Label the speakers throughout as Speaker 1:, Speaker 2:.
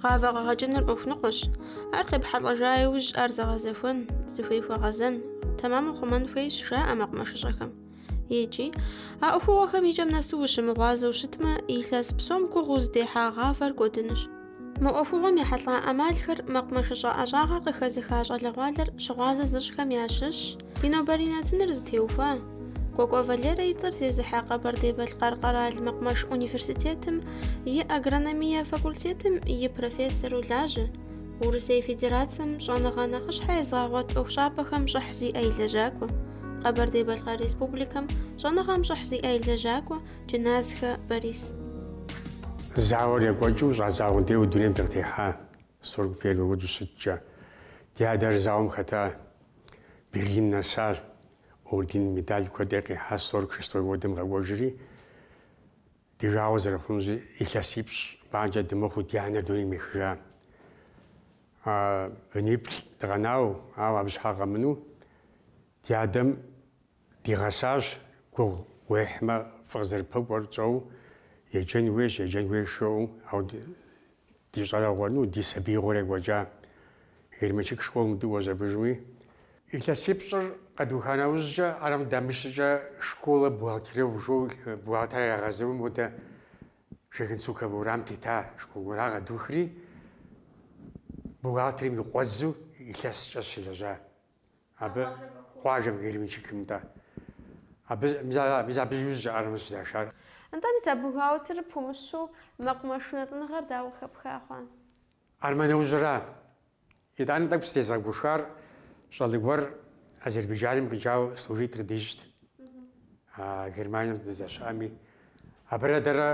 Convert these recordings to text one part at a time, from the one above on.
Speaker 1: Гъавэ къэгъэкӏыныр ӏуэху ныкъуэщ. Ар къепхьэлӏэжа иужь ар зэгъэзэхуэн, зыхуей хуэгъэзэн, тэмэму хъумэн хуейщ, жаӏэ мэкъумэшыщӏэхэм. икӏи, а ӏуэхугъуэхэм и кӏэм нэсу ущымыгъуазэу щытмэ, илъэс псом гугъу узыдехьа гъавэр кӏуэдынущ. Мы ӏуэхугъуэм ехьэлӏа ӏэмалхэр мэкъумэшыщӏэ ӏэщӏагъэр къыхэзыха щӏалэгъуалэр щыгъуазэ зыщӏхэм ящыщщ ди нобэрей нэтыныр зытеухуа Кӏуэкӏуэ Валерэ и цӏэр зезыхьэ Къэбэрдей-Балъкъэр къэрал мэкъумэш университетым и агрономие факультетым и профессору лажьэ Урысей Федерацэм щӏэныгъэ нэхъыщхьэ езыгъэгъуэт ӏуэхущӏапӏэхэм щӏыхь зиӏэ и лэжьакӏуэ, Къэбэрдей-Балъкъэр Республикэм щӏэныгъэм щӏыхь зиӏэ и лэжьакӏуэ Джыназхэ Борис.
Speaker 2: Зауэр екӏуэкӏыу щӏадзагъэу деуэ дунейм дыкъытехьа, сорок первый году щыткӏэ. Ди адэр зауэм хэта, Берлин нэса, орден, медаль куэд къихьа, сорок шестой годым къэкӏуэжри. Ди жагъуэ зэрыхъунщи илъэсипщӏ бгъанкӏэ дымыхъуу ди анэр дунейм ехыжа. Быниплӏ дыкъэнауэ, ауэ абы щхьэ къэмынэу ди адэм дигъэсащ, гугъу уехьмэ фӏы къызэрыпэкӏуэр тщӏэу еджэн хуейщ, еджэн хуейщ жиӏэу, ауэ Ди щӏалэгъуэ, ну, ди сабиигъуэр екӏуэкӏа Герменчик школым дыкӏуэщ абдежми, илъэсипщӏыр къэдуха нэужькӏэ, армэм дамыш щӏыкӏэ школа бухгалтеров жо бухгалтер ирагъасэу модэ Шогенцукова уэрам тета школ гуэр къэдухри, бухгалтерым и къуэдзэу илъэскӏэ сыщылэжьа Абы къуажэм Герменчикым? Нтӏэ. Абы мис абы иужь армэ сыщашар. Нтӏэ, мис а
Speaker 1: бухгалтерыр пумыщэу мэкъумэш унэтӏыныгъэр дауэ къыхэпха хъуа? Армэ
Speaker 2: нэужьра? Итӏани тӏэкӏу сытезыгъэгушхуар щӏалэ гуэр Азербайджаным къикӏауэ служит къыддищӏт. А Германием дыздэщыӏэми, Абырэ дэрэ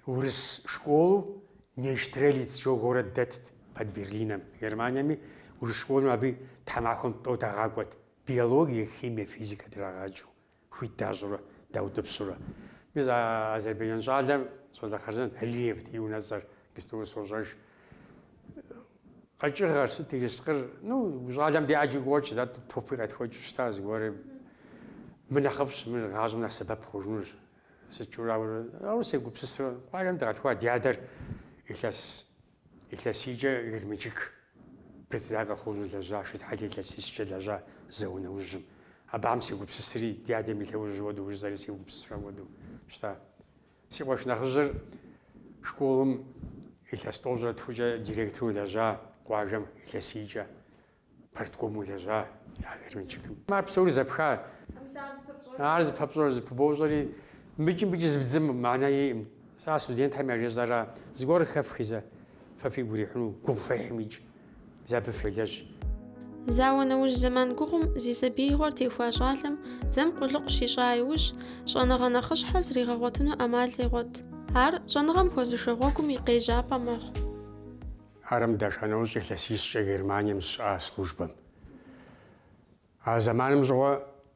Speaker 2: урыс школу Нейштрелиц жо город дэтт под Берлинэм, Германиеми урыс школым абы тхьэмахуэм тӏэу дагъакӏуэт, биологие, химие, физикэ драгъаджэу, хуит дащӏурэ даутӏыпщурэ. Мис а азербайджан щӏалэм, щӏалэ хъарзынэт, Алиевт и унэцӏэр, иджыпстуи сощӏэж, Къэкӏыгъэр сыт ерыскъыр, ну, щӏалэм дэ ӏэджи къокӏ, дэ топи къетхуэкӏыу щыта зыгуэри. Мыр нэхъыфӏщ, мыр гъащӏэм нэхъ сэбэп хъужынущ. Сыткӏэ ауэрэ, ауэ сегупсысрэ. Къуажэм дыкъалъхуа ди адэр илъэс, илъэсийкӏэ Герменчик председатель колхозу лэжьа, Шытхьэлэ илъэсищкӏэ лэжьа зауэ нэужьым. Абыхэм сегупсысри, ди адэм и лъэужьыр хуэдэу, жысӏэри сегупсысрэ хуэдэу щыта. Си къуэш нэхъыжьыр школым илъэс тӏощӏрэ тхукӏэ директору лэжьа, къуажэм илъэсийкӏэ парткому лэжьа а Герменчикым. Ар псори зэпха. Ар зыпэпщӏэр, зыпыбощӏэри, мыкӏи мыкӏи зыбдзым мэнэ иӏым. Сэ а студентхэм яжезӏэра, зыгуэр хэфхи зэ, фэ фигу ирихьыну гугъу фехьымикӏ. Мис абы фелэжь.
Speaker 1: Зауэ нэужь зэман гугъум зи сабиигъуэр техуа щӏалэм дзэм къулыкъу щищӏа иужь, щӏэныгъэ нэхъыщхьэ зригъэгъуэтыну ӏэмал къегъуэт. Ар щӏэныгъэм хуэзышэ гъуэгум и къежьапӏэ мэхъу.
Speaker 2: Армэм даша нэужь илъэсищкӏэ Германием сыщыӏа службэм. А зэманым щыгъуэ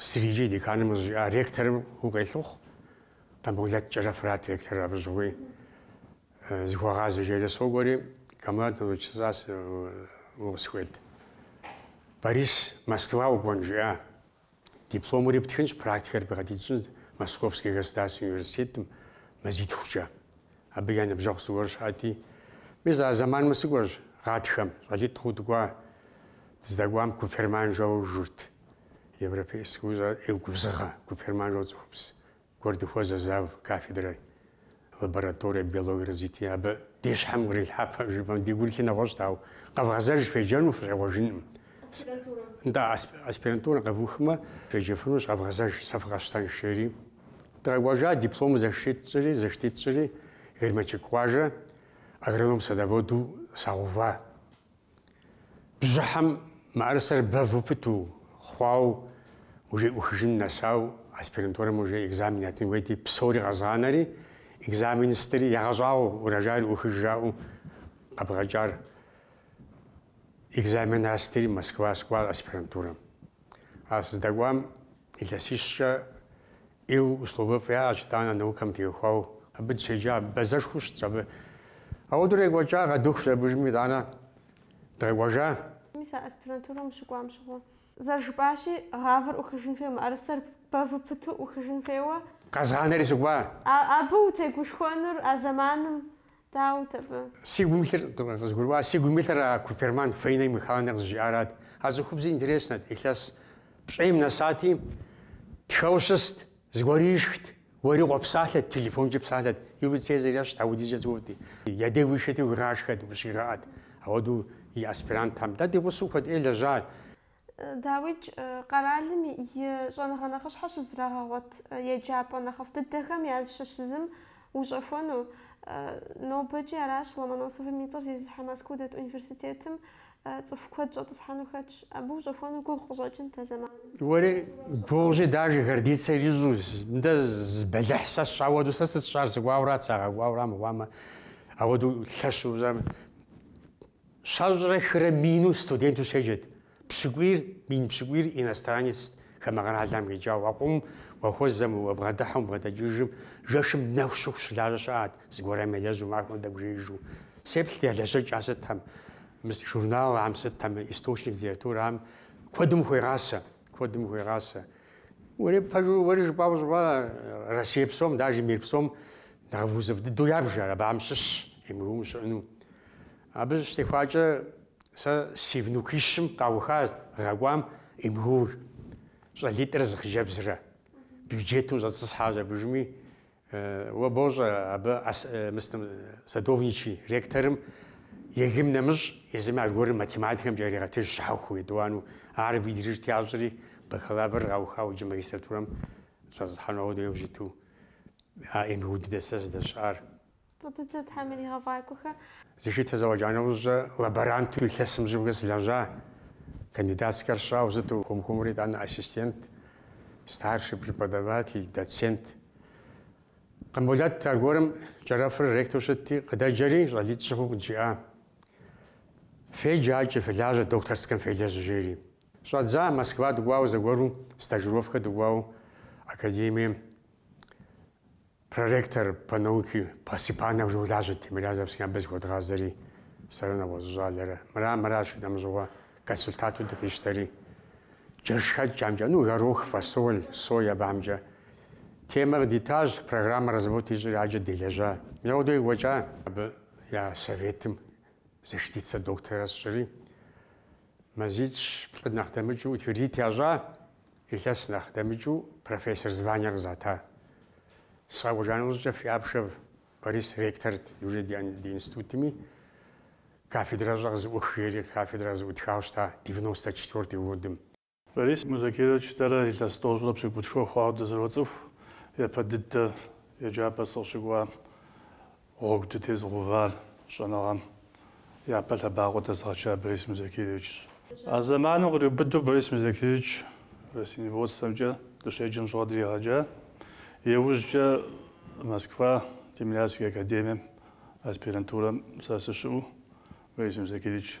Speaker 2: Сриджи деканым къызжиӏа ректорым укъелъыхъу, Къамболэт Кӏэрэфырат ректор абы щыгъуи зыхуэгъазэ жери сокӏуэри, Камбулат Наурузович сыщӏа укъысхуейт. Борис Москва укӏуэн жиӏа. Дипломури птхынщ, практикэр проходит пщӏынщ Московскэ государственнэ университетым мазитхукӏэ. Абы я ныбжьэгъу зыгуэр щыӏэти, Мис а зэманым сыкӏуэщ гъатхэм, щӏалитӏ хъуу дыкӏуа. Дыздэкӏуам Куперман жэуэ журт. Европейскэ ӏеу губзыгъэ Куперман жэу цӏыхубз гуэр дыхуэзэ завкафедрэ, лаборатория биологии развития. Абы ди щхьэм кърилъхьэпэ жыпӏэм ди гурылъыр нэгъуэщӏт, ауэ къэвгъэзэж феджэну фыщӏегъуэжынкъым. Да, аспирантурэм къэвухмэ, феджэфынущ, къэвгъэзэж, сэ фыкъэсщтэнщ, жери. Дыкъэкӏуэжа, дипломыр еттри, защит тщӏри, Герменчик къуажэ, агроном-садоводу сагъэува. Бжьыхьэм мыӏэрысэр бэву пыту, хъуауэ, уже ӏухыжын нэсауэ, аспирантурэм уже экзамен ятын хуейти, псори къэзгъанэри, экзамен стыри, ягъэщӏагъуэу, урожайр ӏухыж жаӏэу къэбгъэкӏар. Экзаменхэр стыри Москва сыкӏуа аспирантурэм. Ар сыздэкӏуам илъэсищкӏэ ӏеу условиефӏ яӏэщ, итӏанэ наукэм теухуауэ абы дыщеджа бэзэшхуэу щытщ абы. Ауэдурэ екӏуэкӏа къэдухщ абы дежми, итӏанэ дыкъэкӏуэжа. Мис
Speaker 1: а аспирантурэм ущыкӏуам щыгъуэ. Зэрыжыпӏащи, гъавэр ӏухыжын хуейуэ, мыӏэрысэр бэву пыту ӏухыжын хуейуэ. Къэзгъанэри сыкӏуа.
Speaker 2: Абы
Speaker 1: утегушхуэнур а зэманым дауэт абы? Сигум илъыр, къызгурыӏуа,
Speaker 2: сигум илъыр а Куперман Фаина Михайловнэ къызыжиӏарат. А цӏыхубзыр интереснэт, илъэс пщӏейм нэсати, тхэу щыст, зыгуэр ишхт, уэри къопсалъэт, телефонкӏэ псалъэт. Юлий Цезарь ещхьт, ауэдизкӏэ цӏыхуфӏти, я деж уишэти уигъашхэт, ущигъэӏэт. Ауэдэу и аспирантхэм. Дэ ди гъусэу куэд ӏей лэжьащ.
Speaker 1: Дауикӏ къэралым и щӏэныгъэ нэхъыщхьэр щызрагъэгъуэт еджапӏэ нэхъыфӏ дыдэхэм языщыщ зым ущӏэхуэну. Нобэкӏи аращ Ломоносовым и цӏэр зезыхьэ Москоу дэт университетым цӏыху куэд щӏэтӏысхьэну хэтщ. Абы ущӏэхуэну гугъу къыщӏэкӏынт а зэманым.
Speaker 2: Уэри гугъущи, даже гордицэ ищӏу, мыдэ зы бэлыхь сэ сщӏа хуэдэу, сэ сыт сщӏар, сыкӏуауэ арат, сагъэкӏуауэ ара мыхъуамэ, апхуэдэу лъэщу, Щэщӏрэ хырэ мину студенту щеджэт. Пщыкӏуийр, мин пщыкӏуийр иностранец хамэ къэралхэм къикӏауэ, укӏуэм уахуэзэм уабгъэдыхьэм уабгъэдэкӏыжым, жэшым нэху щыху щылажьэ щыӏат, зыгуэрым елэжьу махуэм тӏэкӏу жеижу. Сеплъти я лэжьэкӏэ сытхэм, мы журналхэм сытхэм, источник литературэхэм куэдым ухуегъасэ, куэдым ухуегъасэ. Уэри пэжу, уэри жыпӏауэ щӏыпӏэ, Россие псом, даже мир псом нэхъ вузыфӏ дыдэу ябжар, абыхэм щыщщ МГУ-м щыӏэну. Абы щытехуакӏэ сэ си внукищым къаухащ гъэ кӏуам МГУ-р, щӏалитӏыр зы хъыджэбзрэ. Бюджету щӏэцӏысхьащ абы жыми, уэ бощӏэ абы мыстым Садовничий ректорым ЕГЭ-м нэмыщӏ езыми аргуэру математикэмкӏэ яригъэтыж щхьэхуэу, етӏуанэу. Ар выдержать ящӏри, бакалавр къаухауэ иджы магистратурэм щӏэцӏысхьэну апхуэдэу щыту а МГУ дыдэщ сэ сыздэщыӏар.
Speaker 1: Фӏы дыдэ Тхьэм
Speaker 2: иригъэфӏакӏуэхэ. Защитэ зэфӏэкӏа нэужькӏэ лаборанту илъэсым щӏигъу сылэжьа. Кандидатскэр сщӏауэ щыту хуэм-хуэмурэ итӏанэ ассистент, старший преподаватель, доцент. Къамболэт аргуэрым Кӏэрэфыр ректору щытти, къыдэджэри, щӏалитӏ-щы хъууэ къыджиӏа. Феджакӏэ, фелажьэ докторскэм фелэжь, жери. Щӏэддза, Москва дыкӏуауэ зэгуэру, стажировкэ дыкӏуауэ академием. Проректор по науке Посыпанов щолажьэ Тимирязевскэм абы зыхуэдгъазэри, сэрэ нэгъуэщӏ щӏалэрэ. Мыра, мыращ и дамыщӏыгъуэ консультанту дыкъищтэри. Джэшхэкӏхэмкӏэ, ну, горох, фасоль, соя абыхэмкӏэ. Темэ къыдитащ, программэ разработать ищӏри, аджэ делэжьа. Мыпхуэдэу къекӏуэкӏа. Абы я советым защитицэ докторрэ сщӏыри, мазищ-плӏы нэхъ дэмыкӏыу, утвердит ящӏа, Илъэс нэхъ дэмыкӏыу профессор звание къызата. Сыкъэкӏуэжа нэужькӏэ Фиапшев Борис ректорт уже ди институтми. Кафедращӏэ къызэӏух жери кафедра къызэӏутхауэ щыта девяносто четвёртый годым.
Speaker 3: Борис Музакирович, дэрэ илъэс тӏощӏрэ пщыкӏутху хъуауэ дызэроцӏыху япэ дыдэ еджапӏэр сыкъыщыкӏуам. Гъуэгу дытезыгъэувар щӏэныгъэм япэ лъэбакъуэ дэзыгъэчар Борис Музакировичщ. А зэманым къриубыдэу Борис Музакирович растениеводствэмкӏэ дыщеджэм щыгъуэ дригъэджа. Иужькӏэ Москва Тимирязевскэ академием аспирантурэм сэ сыщыӏэу Борис Музакирович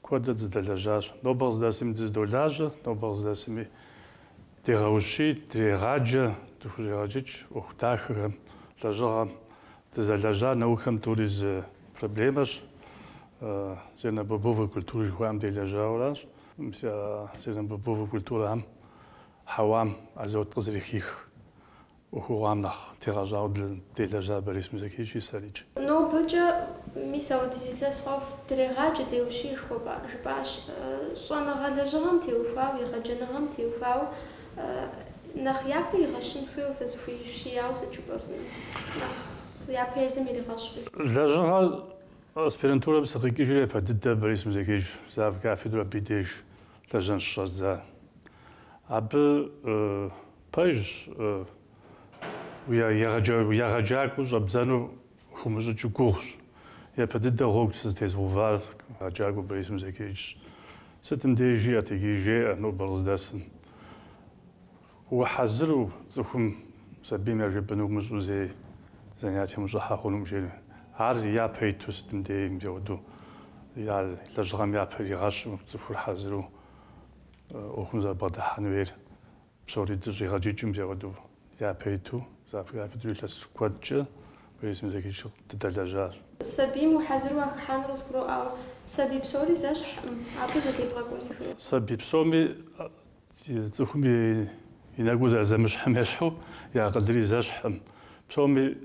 Speaker 3: Куэдрэ дызыдэлэжьащ. Нобэ къыздэсми дыздолажьэ, нобэ къыздэсми дегъэущий, дрегъаджэ, дыхущӏегъэджыкӏ ӏуэху дахэхэм, лэжьыгъэм. Дызэлэжьар наукэм тӏури зы проблемэщ, зернобобовой культурэ жыхуаӏэм делэжьауэращ. Мис а зернобобовой культурэхэм хьэуам азот къызэрыхих ӏуэхугъуам нэхъ тегъэщӏауэ делэжьа Борис Музакировичи сэрикӏ.
Speaker 1: Нобэкӏэ, мис ауэдиз илъэс хъуауэ дрегъаджэ, деущий, жыпӏащ. Щӏэныгъэ лэжьыгъэм теухуауэ, егъэджэныгъэм теухуауэ нэхъ япэ игъэщын хуейуэ фызыхуиущияуэ сыт жыпӏэфыну? Нэхъ япэ езым иригъэщыр
Speaker 3: лэжьыгъэращ. Аспирантурэм сыкъикӏыжри япэ дыдэ Борис Музакирович завкафедру абы и деж лэжьэн щыщӏэздза. Абы Пэжщ, егъэджакӏуэу щӏэбдзэну хыумыщӏыкӏыу гугъущ. Япэ дыдэ гъуэгу сытезыгъэувар егъэджакӏуэ Борис Музакировичщ. Сытым деж жиӏэт, иджыри жеӏэ нобэр къыздэсым. Ухьэзыру цӏыхум сабийм яжепӏэнур умыщӏэу зэи занятием ущӏыхьэ хъунукъым жери. Ар япэ иту сытым дей мыпхуэдэу ар лэжьыгъэм япэ иригъэщу цӏыхур хьэзыру ӏуэхум зэрыбгъэдыхьэн хуейр. Псори дыщӏигъэджыкӏыу мис ауэдэу япэ иту, завкафедру илъэс куэдкӏэ Борис Музакирович дыдэлэжьащ.
Speaker 1: Сабийм ухьэзыру
Speaker 3: уахыхьэн, къызгурыӏуауэ, сабий псори зэщхькъым, абы зэдебгъэкӏуэну. Сабий псоми, цӏыхум и нэгу зэрызэмыщхьым ещхьу, и акъылри зэщхькъым. Псоми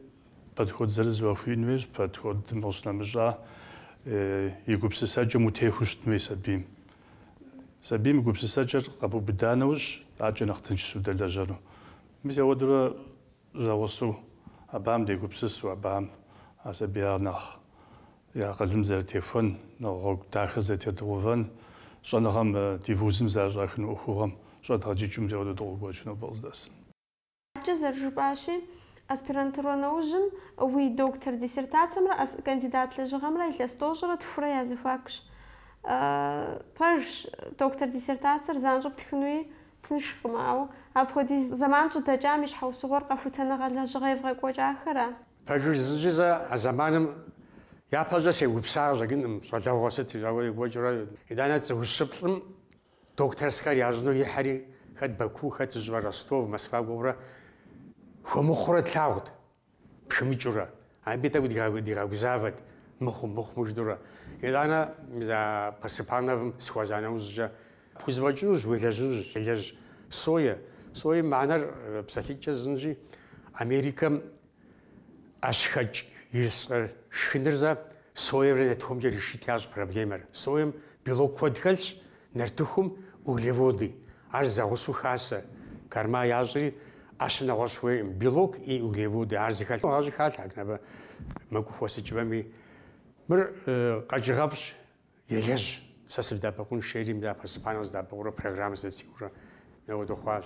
Speaker 3: подход зырыз яхууиӏэн хуейщ, подходым къыщынэмыщӏа, и гупсысэкӏэм утехуэу щытын хуей сабийм. Сабийм гупсысэкӏэр къэбубыда нэужь, адэкӏэ нэхъ тыншщ удэлэжьэну. Мис ауэдэурэ зэгъусэу абыхэм дегупсысу, абыхэм а сабийхэр нэхъ и акъылым зэрытехуэн, нэхъ гъуэгу дахэ зэрытедгъэувэн, щӏэныгъэм ди вузым зэрыщӏахыну ӏуэхугъуэм щӏэдгъэджыкӏыу мис ауэдэу дыкъокӏуэкӏ нобэ къыздэсым.
Speaker 1: Адэкӏэ зэрыжыпӏащи, аспирантурэ нэужьым уи доктор диссертацэмрэ кандидат лэжьыгъэмрэ илъэс тӏощӏрэ тхурэ я зэхуакущ. Пэжщ, доктор диссертацэр занщӏэу птхынуи тыншкъым, ауэ апхуэдиз зэман щӏыдэкӏам и щхьэусыгъуэр къэхутэныгъэ лэжьыгъэ евгъэкӏуэкӏахэра? Пэжу
Speaker 2: жысӏэнщи, сэ а зэманым япэщӏэ сегупсыса къыщӏэкӏынкъым, щӏалэгъуэ сити, ауэ екӏуэкӏыурэ. Итӏанэ цӏыхум ущеплъым Докторскэр ящӏыну яхьри, хэт Баку, хэт, сщӏэрэ, Ростов, Москва гугъурэ хуэмыхъурэ тлъагъут, пхымыкӏыурэ. Абы тӏэкӏу дигъэгузавэт, мыхъуу, мыхъумэ жыдурэ. Итӏанэ мис а Посыпановым сыхуэза нэужькӏэ, пхузэфӏэкӏынущ, уелэжьынущ, елэжь. Сое. Соем мыхьэнэр псалъитӏкӏэ жысӏэнщи, Америкэм ӏэщхэкӏ ирскъыр шхыныр зэ соемрэ нартыхумкӏэ решить ящӏ проблемэр. Соем белок куэд хэлъщ, нартыхум углеводы. Ар зэгъусэу хасэ, корма ящӏри ӏэщым нэгъуэщӏ хуейкъым. Белок и углеводы, ар зыхэлъ гъащӏи халъхьэт набэ мэкӏуу хуэсыкӏмэми. Мыр къэкӏыгъэфӏщ, елэжь. Сэ сыбдэӏэпыкъунщ жери мыдэ постепеннэу къыздэӏэпыкъурэ программэ зыдэцикӏурэ мыуэ дыхъуащ.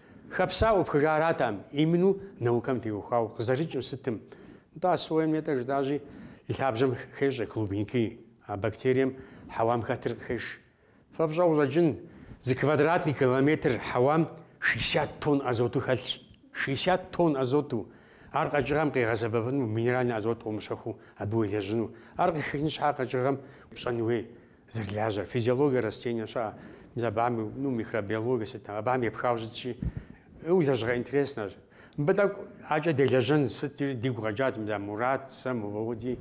Speaker 2: Хэпсауэ упхыжа ара там, именно наукэм теухуау къызэрыкӏым сытым. Нтӏэ а соем нетӏэ жытӏащи, и лъабжьэм хещӏэ клубеньки, а бактерием хьэуам хэтыр къыхеш. Фэ фщӏэуэ къыщӏэкӏын, зы квадратный километр хьэуам шестьдесят тонн азоту хэлъщ. Шестьдесят тонн азоту! Ар къэкӏыгъэм къигъэсэбэпыну минеральный азот къыумыщэхуу абы уелэжьыну. Ар къыхихын щхьа къэкӏыгъэм пщӏэн хуей. Зэрылажьэр физиологие растение щыӏэ мис абыхэм ну микробиологие сыт абыхэм епхауэ щытщи ыу лэжьыгъэ интереснэщ. Мыбы тӏэкӏу ӏэкӏэ делэжьын жытӏэри дигу къэкӏат мис а мурад сэ мыуэу ди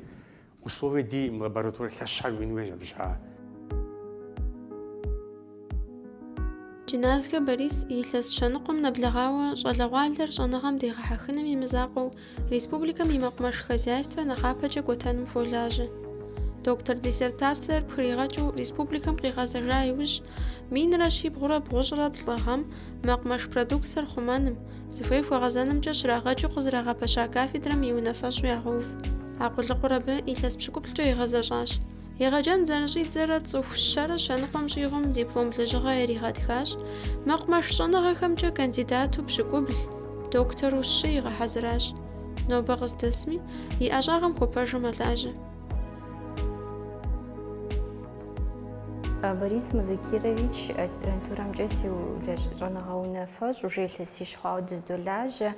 Speaker 2: условие ди лабораторэ лъэщхэр уиӏэн хуейщ абы
Speaker 1: щхьэкӏэ. Джыназгэ Борис илъэс щэныкъуэм нэблэгъауэ щӏалэгъуалэр щӏэныгъэм дегъэхьэхыным и мызакъуэу республикэм и мэкъумэш хозяйствэ нэхъапэкӏэ кӏуэтэным хуолажьэ. Доктор диссертациер пхригъэкӏыу республикэм къигъэзэжа иужь, минрэ щибгъурэ бгъущӏрэ плӏы гъэм мэкъумэш продукцэр хъумэным, зыхуей хуэгъэзэнымкӏэ щрагъэджу къызэрагъэпэща кафедрэм и унафэщӏу ягъэув. А къулыкъур абы илъэс пщыкӏуплӏкӏэ игъэзэщӏащ. Егъэджэн зэрыщӏидзэрэ цӏыху щэрэ щэныкъуэм щӏигъум диплом лэжьыгъэ иригъэтхащ. Мэкъумэш щӏэныгъэхэмкӏэ кандидату пщыкӏубл, доктору щы игъэхьэзыращ. Нобэ къыздэсми, и ӏэщӏагъэм хуэпэжу мэлажьэ.
Speaker 4: Борис Музакирович, аспирантурэмкӏэ си щӏэныгъэ унафэщӏ, уже илъэсищ хъуауэ дыздолажьэ.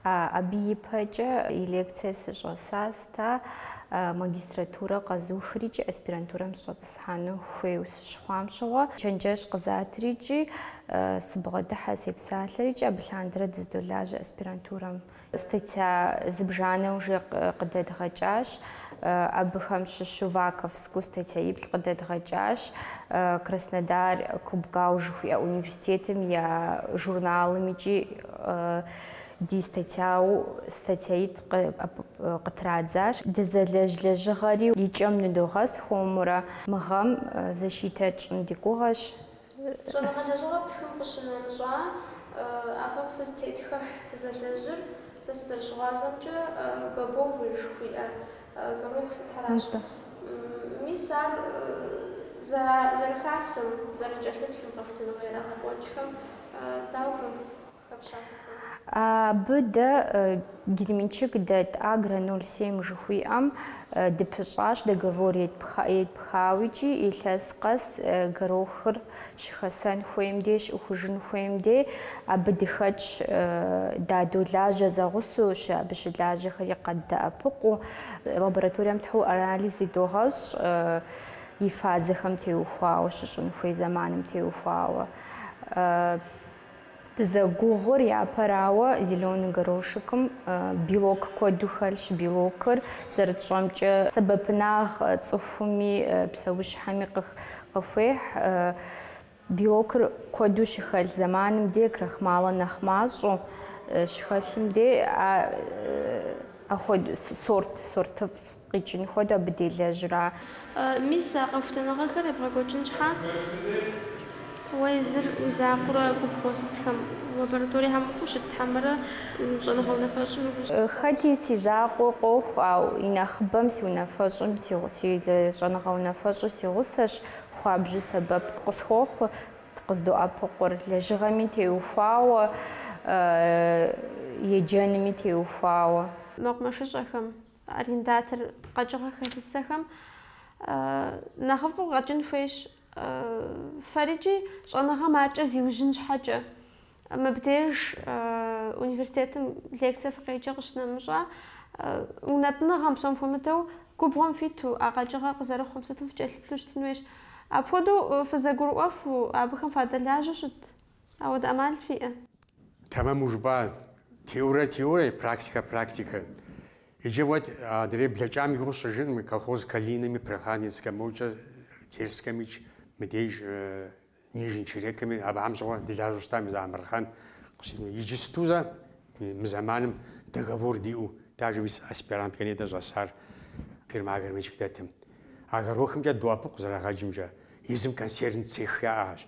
Speaker 4: Абы ипэкӏэ и лекцие сыщӏэсащ. Сэ магистратурэ къэзухри икӏи аспирантурэм сыщӏэтӏысхьэну хуейу сыщыхъуам щыгъуэ, чэнджэщ къызатри икӏи сыбгъэдыхьэ сепсалъэри икӏи абы лъандэрэ дыздолажьэ аспирантурэм. Статья зыбжанэ уже къыдэдгъэкӏащ, абыхэм щыщу ваковскэу статьяиплӏ къыдэдгъэкӏащ, Краснодар КубГАУ жыхуиӏэ университетым я журналым икӏи Ди статьяу статьяитӏ къытрадзащ. Дызэлэжь лэжьыгъэри и кӏэм ныдогъэс хуэмурэ мы гъэм защитэ тщӏын ди гугъэщ. Щӏэныгъэ
Speaker 1: лэжьыгъэ фтхым къыщынэмыщӏа, а фэ фызтетхыхь фызэлэжьыр сэ сызэрыщыгъуазэмкӏэ бобовэ жыхуиӏэ горох сытхэращ. Мис ар зэрыхасэм, зэрыкӏэлъыплъым къэхутыныгъэ ирагъэкӏуэкӏхэм дауэ?
Speaker 4: Абы дэ Герменчик дэт Агро 07 жыхуиӏэм дыпыщӏащ договор етпхауикӏи, илъэс къэс горохыр щыхэсэн хуейм дей, щыӏухыжын хуейм дей абы дыхэтщ, дадолажьэ зэгъусэу, абы щылажьэхэри къаддэӏэпыкъуу, лабораторием тхьэу анализ идогъэщӏ и фазэхэм теухуауэ, щыщӏын хуей зэманым теухуауэ. Дызэгугъур япэрауэ, зеленый горошекым белок куэду хэлъщ. Белокыр, зэрытщӏэмкӏэ, сэбэпынагъ цӏыхуми псэущхьэми къыхуехь. Белокыр куэду щыхэлъ зэманым де, крахмалыр нэхъ мащӏэу щыхэлъым де, а сорт, сортыфӏ. Къикӏын хуэдэу абы делэжьра?
Speaker 1: Мис, а къэхутэныгъэхэр ебгъэкӏуэкӏын щхьэ, уэ езыр уи закъуэрэ а губгъуэ сытхэм, лабораториехэм ущыт хьэмэрэ уи щӏэныгъэ унафэщӏым и гъусэу? Хэти си
Speaker 4: закъуэ къохъу, ауэ и нэхъыбэм си унафэщӏым, си щӏэныгъэ унафэщӏыр си гъусэщ, хуабжьу сэбэп къысхуохъу, къыздоӏэпыкъур, лэжьыгъэми теухуауэ, еджэнми теухуауэ. Мэкъумэшыщӏэхэм.
Speaker 1: Арендатор къэкӏыгъэ хэзысэхэм нэхъыфӏу къэкӏын хуейщ. Фэрикӏи щӏэныгъэм адэкӏэ зиужьын щхьэкӏэ. Мыбдеж университетым лекцэ фыкъеджэ къыщынэмыщӏа, унэтӏыныгъэм псом хуэмыдэу губгъуэм фиту а къэкӏыгъэр къызэрыхъум сытым фыкӏэлъыплъу щытын хуейщ. Апхуэдэу фызэгурыӏуэфу, абыхэм фадэлажьэу щыт. Апхуэдэ ӏэмал фиӏэ?
Speaker 2: Тэмэму жыпӏа, теорэ теорэ, практикэ практикэ. Иджы уэ адрей блэкӏам и гугъу тщӏыжын мы колхоз Калинэми, Прохладненскэ мокӏэ, Терскэмикӏ, мыдеж Нижний Черекэми, абыхэм щыгъуэ дылажьэу щытам и зыамырхъэн къыщытын. Иджысту зэ мы зэманым договор диӏэу даже мис аспиранткэ ней дэ щӏэсар фирмэ Герменчик дэтым. А горохымкӏэ доӏэпыкъу къызэрагъэкӏымкӏэ, езым консервный цех яӏэщ.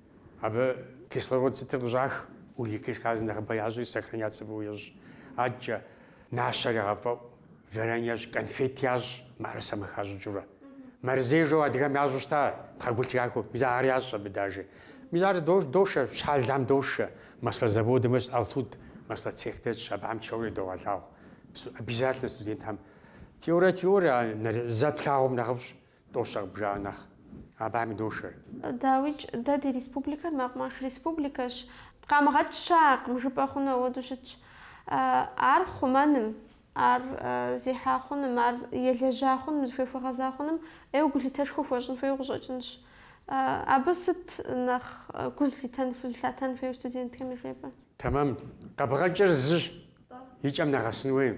Speaker 2: Абы кислород сытыр къыщӏах, углекислый газ нэхъыбэ ящӏри сохраняться фӏыуэ ещӏ. Адэкӏэ нащэр ягъэфӏэӏу, варенье ящӏ, конфет ящӏ, мыӏэрысэм къыхащӏыкӏыурэ. Мэрзей жаӏэу адыгэм ящӏу щыта пхъэгулъ трахуэ, мис ар ящӏ абы даже. Мис ар дошэ, щхьэлам дошэ. Масло заводым ещӏ Алтуд, масло цех дэтщ, абыхэм тшэуэрэ идогъэлъагъу. Обязательно студентхэм теорэ-теорэ, а нэрэ зэ плъагъум нэхъыфӏщ. Тӏощӏыгъ бжа нэхъ. Абыхэми дошэр. Дауикӏ,
Speaker 1: дэ ди республикэр мэкъумэш республикэщ. Къамыгъэкӏ щыӏэкъым, жыпӏэ хъуну ауэдэу щытщ. Ар хъумэным, ар зехьа хъуным, ар елэжьа хъуным, зыхуей хуэгъэза хъуным ӏейуэ гулъытэшхуэ хуэщӏын хуейуэ къыщӏэкӏынщ. Абы сыт нэхъ гу зылъитэн, гу зылъатэн хуейуэ студентхэм яжепӏэ? Тэмэм.
Speaker 2: Къэбгъэкӏыр зыщ. И кӏэм нэгъэсын хуейм.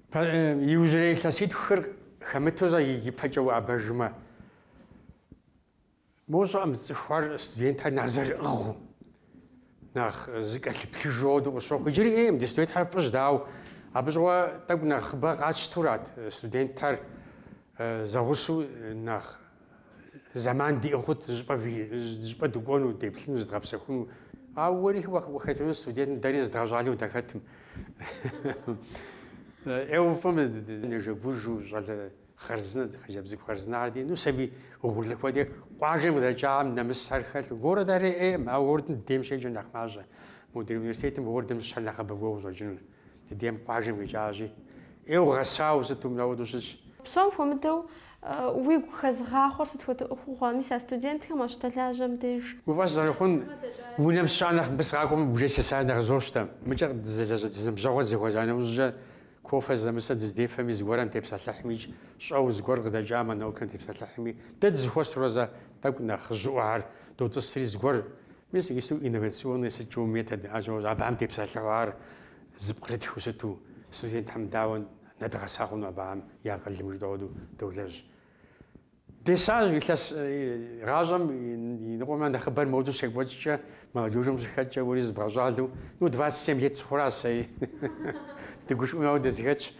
Speaker 2: Иужьрей илъэситхухэр хэмыту зэ ипэкӏэ уӏэбэжмэ, моуэ сщӏэӏым, цӏыхухэр, студентхэр нэхъ зэрыӏыгъыу, нэхъ зыкӏэлъыплъыж хуэдэу къысщохъу. Иджыри ӏейкъым, ди студентхэр фӏыщ, дауэ абы щыгъуэ тӏэкӏу нэхъыбэ къатщтэурат студентхэр зэгъусэу нэхъ Зэман диӏэу хъут щӏыпӏэ-щӏыпӏэ дыкӏуэну, деплъыну, зыдгъэпсэхуну. Ауэ уэри уахэтыну студентым дэри зыдгъэщӏалэу дахэтым. ӏейуэ фӏым нэжэгужу щӏалэ хъарзынэ, хъыджэбз цӏыкӏу хъарзынэхэр ди, ну сабий угъурлы хуэдэ къуажэм къыдэкӏахэм нэмысхэр хэлъу. Городхэри ӏейкъым, ауэ городым ди дейм щеджэр нэхъ мащӏэ. Модрей университетым городым щыщхэр нэхъыбэ кӏуэуэ къыщӏэкӏынур. Ди дейм къуажэм къикӏащи, ӏейуэ гъэсауэ сыту ауэдэу щытщ. Псом
Speaker 1: хуэмыдэу уигу хэзгъахъуэр сыт хуэдэ ӏуэхугъуэ? Мис а студентхэм уащыдэлажьэм деж. Уи фӏэщ зэрыхъун,
Speaker 2: унэм сыщыӏэ нэхъ мыбы сыкъакӏуэмэ уже сесар нэхъ къызощтэ. Мыкӏэ къыддэлажьэ ди ныбжьэгъухэр дызэхуэза нэужькӏэ кофе зэзэмызэ дыздефэми зыгуэрым дытепсэлъыхьми, щӏэуэ зыгуэр къыдэкӏамэ наукэм дытепсэлъыхьми дэ дызэхуэсурэ зэ тӏэкӏу нэхъыжьыӏуэхэр дотӏысри зыгуэр Мис инновационнэ сыт щӏэуэ методхэр щыӏэ, абыхэм дытепсэлъыхьу ар зэпкърытхыу сыту студентхэм дауэ нэдгъэса хъуну абыхэм я акъылым жытӏэу ауэдэу долэжь. Десащ илъэс гъащӏэм и ныкъуэм нэхъыбэр модэу щекӏуэкӏкӏэ, молодежым ущыхэткӏэ уэри зыбгъэщӏалэу, ну двадцать семь лет сыхъуаращ сэри, дыгушыӏэу моуэ дызэхэтщ.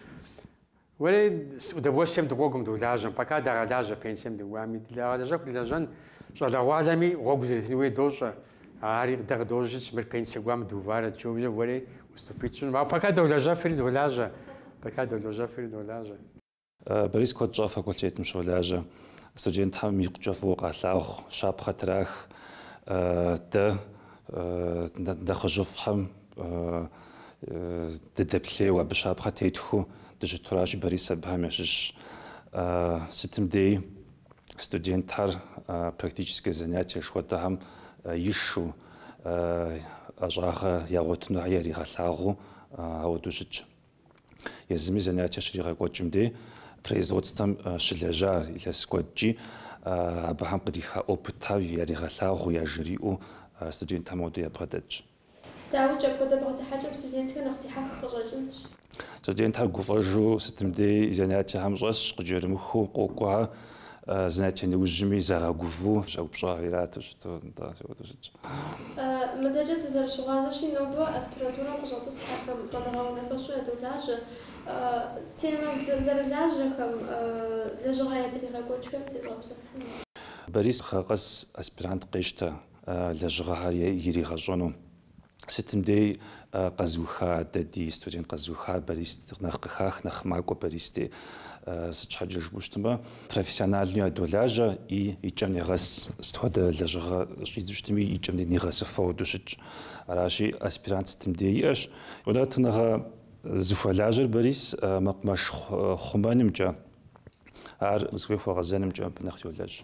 Speaker 2: Уэри с удовольствием дыкъокӏуэм, долажьэм, пока дагъэлажьэ, пенсием дыкӏуами, дагъэлэжьэху дылэжьэн, щӏалэгъуалэми гъуэгу зэретын хуейр дощӏэ. Ари дэ къыдожьэ, мыр пенсие кӏуам дыуваращ уже, уэри уступить пщӏынум. Ауэ пока долэжьэфри долажьэ, пока долэжьэфри долажьэ.
Speaker 5: Борис куэд щӏа факультетым щолажьэ, студентхэм икъукӏэ фӏыуэ къалъагъу, щапхъэ трах. Дэ Нэхъыжьыфӏхэм дыдэплъейуэ, абы щапхъэ тетхыу дыщытуращи, Борис абыхэм ящыщщ. Сытым деи студентхэр практическэ занятие жыхуэтӏэхэм ишэу, ӏэщӏагъэ ягъуэтыну яригъэлъагъуу ауэдэу щытщ. Езыми занятие щригъэкӏуэкӏым дей производствэм щылэжьа илъэс куэдкӏи абыхэм къриха опытхэр яригъэлъагъуу, яжриӏэу студентхэм ауэдэу ябгъэдэтщ. Дауикӏ, апхуэдэ бгъэдыхьэкӏэм студентхэр
Speaker 1: нэхъ дихьэх къыщӏэкӏынщ. Студентхэр
Speaker 5: гуфӏэжу сытым дей занятиехэм щӏэсщ, къыкӏэрымыхуу къокӏуэ. Занятие нэужьми загъэгуву щӏэупщӏа ирату щыту, ауэдэу щытщ. Мыдэкӏэ дызэрыщыгъуазэщи, нобэ аспирантурэм
Speaker 1: къыщӏэтӏысхьэхэм щӏэныгъэ унафэщӏу ядолажьэ. Темэ зэрылажьэхэм, лэжьыгъэ ядригъэкӏуэкӏхэм
Speaker 5: тезгъэпсэлъыхьыну. Борис, гъэ къэс аспирант къещтэ лэжьыгъэхэр иригъэщӏэну. Сытым дей къэзыуха дэ ди студент къэзыуха Борис нэхъ къыхах нэхъ макӏуэ Борис дей сыт щхьэкӏэ жыпӏэу щытмэ профессиональнэу ядолажьэ и и кӏэм негъэс сыт хуэдэ лэжьыгъэ щӏидзэу щытми и кӏэм нигъэсыфу ауэдэу щытщ аращи аспирант сытым дей иӏэщ унэтӏыныгъэ зыхуэлажьэр Борис мэкъумэш хъумэнымкӏэ ар зыхуей хуэгъэзэнымкӏэ абы нэхъ йолэжь.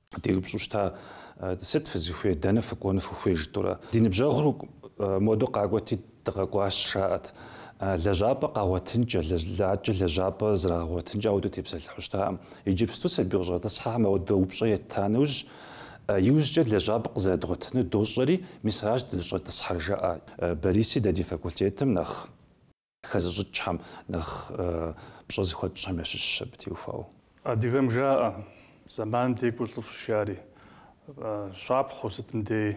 Speaker 5: Деупщӏу щыта, Сыт фызыхуей, дэнэ фыкӏуэну фыхуей жытӏурэ? Ди ныбжьэгъур модэ къакӏуэти, дыкъэкӏуащ, жаӏэт. Лэжьапӏэ къагъуэтынкӏэ, лэжьакӏэ лэжьапӏэ зрагъэгъуэтынкӏэ ауэдэу тепсэлъыхьу щытаӏым. Иджыпсту сабий къыщӏэтӏысхьэхэм ауэдэ упщӏэ етта нэужь, иужькӏэ лэжьапӏэ къызэрыдгъуэтыну дощӏэри, мис аращ дыщӏэтӏысхьэр, жаӏэ Бориси дэ ди факультетым нэхъ. Хэзыщӏыкӏхэм, нэхъ пщӏэ зыхуэтщӏхэм ящыщщ абы теухуауэ. Адыгэм
Speaker 3: жаӏэ, Зэманым декӏур лӏыфӏщ, жари, щапхъэу сытым дей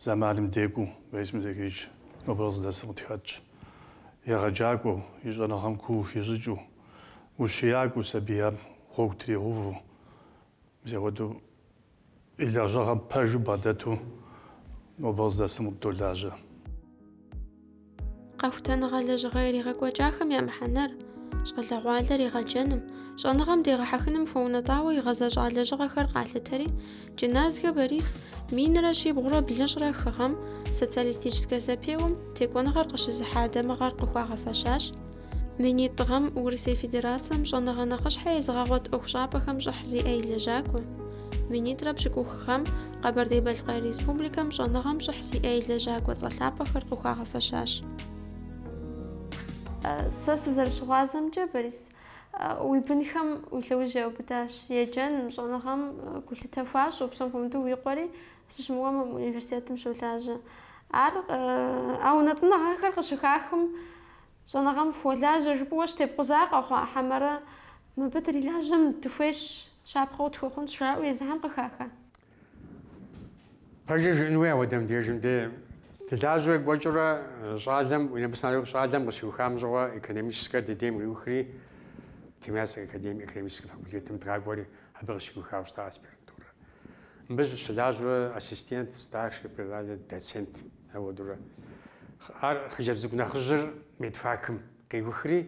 Speaker 3: зэманым декӏуу Борис Музакирович, нобэ къыздэсым къытхэтщ. Егъэджакӏуэу, и щӏэныгъэм куу хищӏыкӏыу, ущиякӏуэу сабийхэр гъуэгу тригъэуву, мис апхуэдэу И лэжьыгъэм пэжу бгъэдэту нобэ къыздэсым къыддолажьэ.
Speaker 1: Къэхутэныгъэ лэжьыгъэ иригъэкӏуэкӏахэм я мыхьэнэр, щӏалэгъуалэр игъэджэным, щӏэныгъэм дегъэхьэхыным хуэунэтӏауэ игъэзэщӏа лэжьыгъэхэр къалъытэри, Джыназхэ Борис минрэ щибгъурэ блыщӏрэ хы гъэм, социалистическэ зэпеуэм, текӏуэныгъэр къыщызыхьа дамыгъэр къыхуагъэфэщащ, Минитӏ гъэм Урысей Федерацэм щӏэныгъэ нэхъыщхьэ езыгъэгъуэт ӏуэхущӏапӏэхэм щӏыхь зиӏэ и лэжьакӏуэ. Минитӏрэ пщыкӏух гъэм Къэбэрдей-Балъкъэр Республикэм щӏэныгъэм щӏыхь зиӏэ и лэжьакӏуэ цӏэ лъапӏэхэр къыхуагъэфэщащ. Сэ сызэрыщыгъуазэмкӏэ, Борис, уи бынхэм уи лъэужь яубыдащ. Еджэным, щӏэныгъэм гулъытэ хуащӏу, псом хуэмыдэу уи къуэри сыщымыуэм мы университетым щолажьэ. Ар, а унэтӏыныгъэхэр къыщыхахым, Щӏэныгъэм фыхуэлажьэ жыпӏэу щытепкъуза къэхъуа хьэмэрэ мыбы дрилажьэм дыхуейщ, щапхъэу тхуэхъунщ жаӏэу езыхэм къыхаха.
Speaker 2: Пэжыр жыӏэн хуей ауэдэм дежым де. Дылажьэурэ кӏуэкӏыурэ щӏалэм, университетыр щӏалэм къыщиухам щыгъуэ экономическэр ди дейм къиухри, Тимирязев академие экономическэ факультетым дгъакӏуэри, абы къыщиухауэ щыта аспирантурэр. Мыбы щылажьэурэ ассистент, старший преподаватель, доцент. Ауэдурэ ар хъыджэбз цӏыкӏу нэхъыжьыр медфакым къиухри,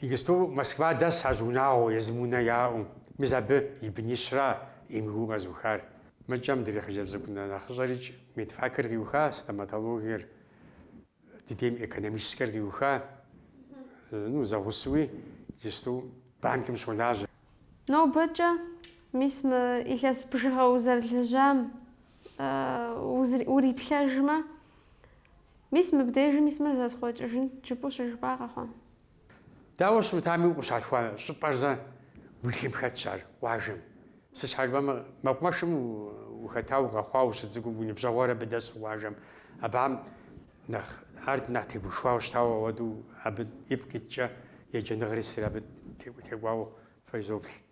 Speaker 2: иджысту Москва дэс ащ унагъуэ, езым унэ яӏэу. Мис абы и бынищра МГУ-м къэзыухар. Мыкӏэ мыдрей хъыджэбз цӏыкӏу нэхъыщӏэрикӏ медфакыр къиуха, стоматологиер. Ди дейм экономическэр къиуха, ну, зэгъусуи, иджысту банкым щолажьэ. Нобэкӏэ,
Speaker 1: мис мы илъэс бжыгъэ узэрылэжьам уриплъэжмэ, мис мыбдежым мис мыр зэсхъуэкӏыжынт, жыпӏэу щыжыпӏа къэхъуа?
Speaker 2: Дауэ щымытами, укъыщалъхуа щӏыпӏэр зэ уи лъым хэтщ ар къуажэм. Сыт щхьэ жыпӏэмэ, мэкъумэшым ухэтауэ, укъэхъуауэ ущыцӏыкӏум, уи ныбжьэгъухэр абы дэсу къуажэм, абыхэм нэхъ, ар нэхъ тегушхуауэ щытауэ ауэдэу абы ипкъ иткӏэ, еджэныгъэри сытри абы текӏуауэ фэ изоплъ.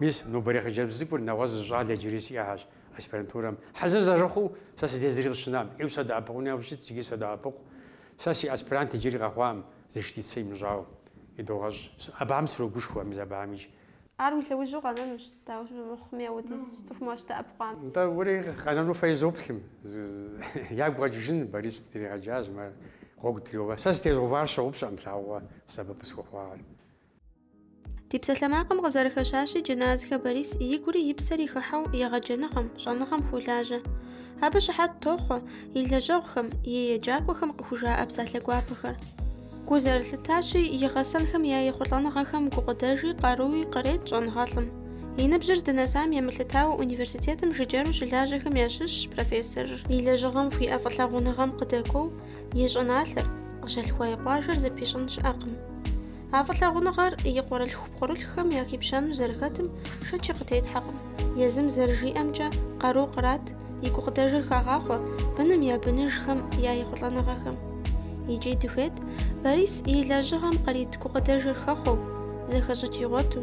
Speaker 2: Мис, нобэрей хъыджэбз цӏыкӏур нэгъуэщӏ зы щӏалэ иджыри сиӏэхэщ аспирантурэм. Хьэзыр зэрыхъуу сэ си дей зыри къыщынам, ӏейуэ садэӏэпыкъуну япэу щытт, зыгьи садэӏэпыкъу. Сэ си аспирант иджыри къэхъуакъым, защитицэ имыщӏауэ. Идогъэщӏ. Абыхэм срогушхуэ, мис абыхэмикӏ. Ар уи
Speaker 1: лъэужьу къэнэнущ, дауэ щымыхъуми, ауэдиз цӏыхум уащыдэӏэпыкъуам. Нтӏэ,
Speaker 2: уэри къэнэну фэ изоплъым. Ягу къэкӏыжын, Борис дригъэджащ, мыр гъуэгу дриуэ. Сэ сытезыгъэувар сщыгъупщэкъым лъагъуэ сэбэп къысхуэхъуар.
Speaker 1: Ди псалъэмакъым къызэрыхэщащи, Джыназхэ Борис и гури и псэри хыхьэу егъэджэныгъэм, щӏэныгъэм хулажьэ. Абы щыхьэт тохъуэ и лэжьэгъухэм, и еджакӏуэхэм къыхужаӏэ псалъэ гуапэхэр. Гу зэрылъытащи, и гъэсэнхэм я ехъулӏэныгъэхэм гукъыдэжи, къаруи кърет щӏэныгъэлӏым. И ныбжьыр здынэсам емылъытауэ университетым жыджэру щылажьэхэм ящыщщ профессорыр, и лэжьыгъэм хуиӏэ фӏылъагъуныгъэм къыдэкӏуэу, И щӏыналъэр, къыщалъхуа и къуажэр зэпищӏын щыӏэкъым. А фӏылъагъуныгъэр и къуэрылъху-пкъырылъхэм яхипщэну зэрыхэтым шэчи къытетхьэкъым. Езым зэрыжиӏэмкӏэ, къару кърат, и гукъыдэжыр хагъахъуэ быным я быныжхэм я ехъулӏэныгъэхэм. Икӏи дыхуейт Борис и лэжьыгъэм кърит гукъыдэжыр хэхъуэу, зэхэщӏыкӏ игъуэту,